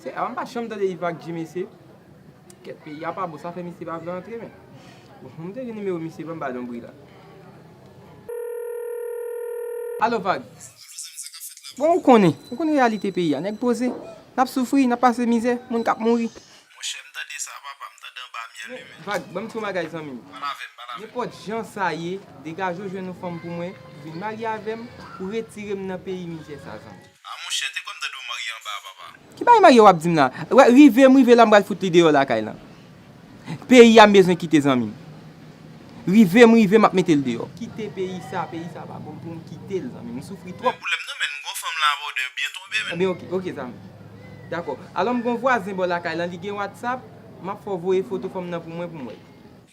Se a mpa janm tande Yve ak Dji mesye Kèt peyi a pa bon sa fè misye pa vle antre men Bon pou m te gen nimewo misye banm ba lonbri la Alo Vag Bon ou konnen ou konnen reyalite peyi a nèg poze Nap soufri nap pase mizè moun kap mouri Monchè m tande sa papa m tande anba myèl wi men Vag banm di yon bagay zanmi m Pale avè m pale avè m Nenpòt jan sa ye degaje w jwenn yon fanm pou mwen vin marye avè m pou retire m nan peyi mizè sa zanmi. Ah monchè te kwèm tande w marye anba a papa. Ki bagay marye wap dim la. Rive m rive la m pral fout li deyò lakay lan. Peyi a m bezwen kite zanmi m. Rive m rive map mete l deyò. Kite peyi sa, peyi sa pa bon poum kitel zanmim, m soufri twòp. Men pou lèm nan menn m gon fanm la abòdè byen tonbe menn. Ebyen ok zanmi. Dakò. Alò m gon vwazen bò lakay lan li gen whatsapp, map fè w voye foto fanm nan pou mwen pou m wè l.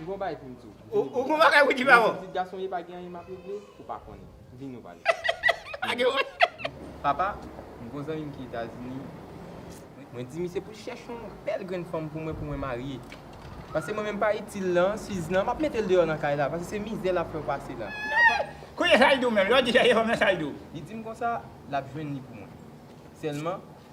M gon bagay pou m di w. Ou gon bagay pou w di m ankò? Menm pitit gason m ye pa gen anyen m ap regle ou pa konnen. Vin nou pale. Pa gen wont. Papa, m gon zanmi m ki Etazini. Mwen di misye pou l chèche yon bèl grenn fanm pou mwen pou mwen marye. Pase mwen menm pa itil lan, Suze lan, m ap mete l deyò nan kay la. Pase se mizè l ap fè w pase la. Kounye sa l di w menm? Lè w di chèche fanm lan sa l di w? Li di m konsa l ap jwenn li pou mwen. Sèlman,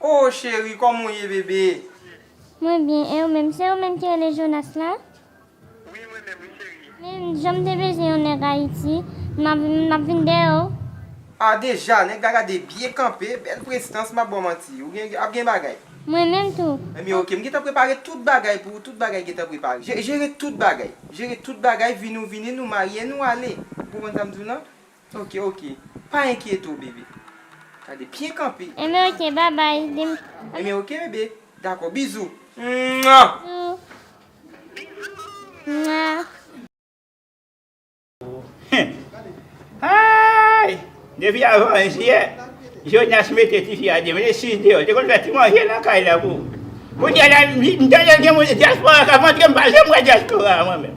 Oh cheri koman w ye bebe. Mwen byen ew menm. Se ou menm ki rele Jonas la? Wi mwen menm wi cheri. Men janm te bezwen yon nèg ayiti map vin dèyè w. Ah deja nèg la gade byen kanpe bèl prestans map baw manti ou gen ap gen bagay. Mwen menm tou. Ebyen ok m gentan prepare tout bagay pou ou tout bagay gentan prepare jere tout bagay jere tout bagay vini ou vini nou marye nou ale ou konprann sa m di w lan Ok ok pa enkyete w bebe. Gade pye kanpe. Enben ok babay dim ok. Enben ok bebe dakò bizou mwah. Bizou mwah. Ohh haayy depi avan 1 jiyè Jonas mete tifi a demen li 6 deyò li te konn fè ti manje nan kay la pou kounya la m tande gen moun dyaspora kap antre m pa janm wè dyaspora mwen menm.